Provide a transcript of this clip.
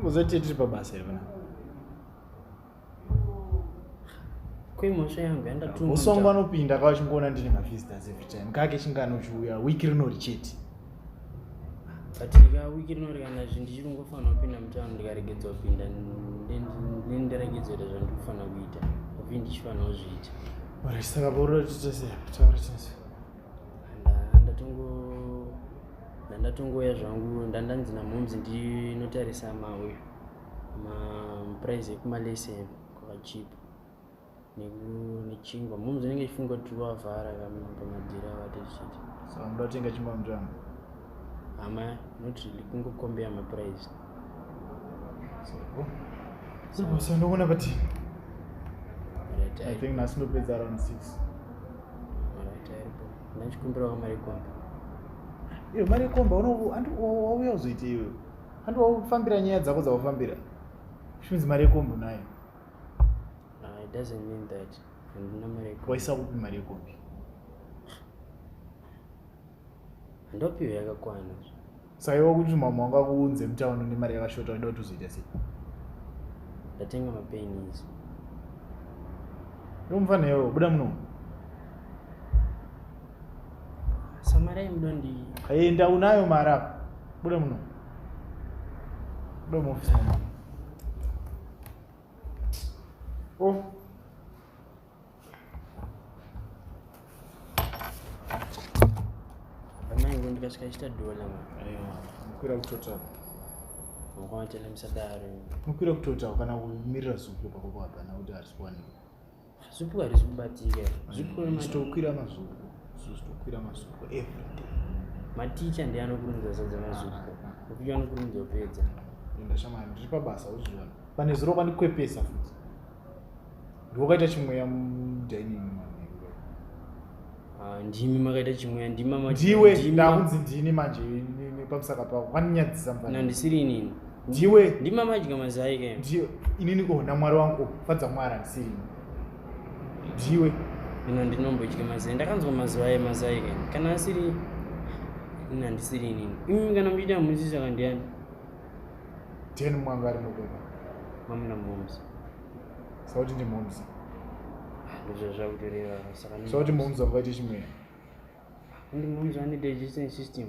Unozotii tiri pabasa here vana? Kwemhosva yangu yandatuma. Usongo anopinda kwa chingoona ndine ma visitors every time. Kake chingano chiuya week rinori chete. But ka week rinori kana zvinhu ndichiri kungofanira kupinda mutano ndikaregedzwa kupinda ndendiregedzwa kuita zvandiri kufanira kuita. Ovi ndichifanira kuzviita. Ora saka pauroti tese taura tese. ndatongouya zvangu ndandanzi namomzi ndinotarisa mawe maprize ekumalese kwakachipa nechingwa momzi inenge ichifunga kuti wavhara pamadhira avatochiti so ndotenga chingwa mutsvanga hama not really kungokombea maprice so ndokuona pati i think nhasi ndopedza around six ndachikumbirawo mari komba iyo mari yekomba wauya uzoite iwe handi waufambira nyaya dzako dzaufambira shunzi mari yekombo nayo ah, waisa kupi mari yekombi handopiwe yakakwana saiwa kuti mama wanga kuunze mutauni nemari yakashota uida kuti uzoita sei ndatenga mapeni izo ndomufana iwewo buda muno samari aimuda ndi enda unayo mari apa buda muno buda muofisi mama oh ndikasvika chita dola mukwira kutotaura mukavatenda musadaro mukwira kutotaura kana kumirira zupu pako kwabana kuti harisi kuwanika zupu harisi kubatika zvitokwira mm, mazupu zvitokwira mazupu everyday maticha ndi anokurumidza sadza mazupu kuti ah, ah, ah. anokurumidza kupedza ndashamana ndiri pabasa uzviona pane zuro kwandikwepesa futi ndiwakaita chimweya mudining ah, ndimi makaita chimweya ndimamadiwe ndakunzi ndini manje pamusaka pako kaninyadzisa mvana handisiri inini ndiwe ndimamadya mazai ke ndiwe inini ko namwari wangu fadza mwari handisiri ini ndiwe ino ndinombodya mazai ndakanzwa mazuva aye mazai ke kana asiri ini handisiri inini imi kana muchiita muisi zvakandiyani ten mwanga ari mukuma mamuna momsi saka kuti ndimomzi ndozvazvakutoreva saka saka kuti momzi vangaite chimwe ndi momzi vane digestion system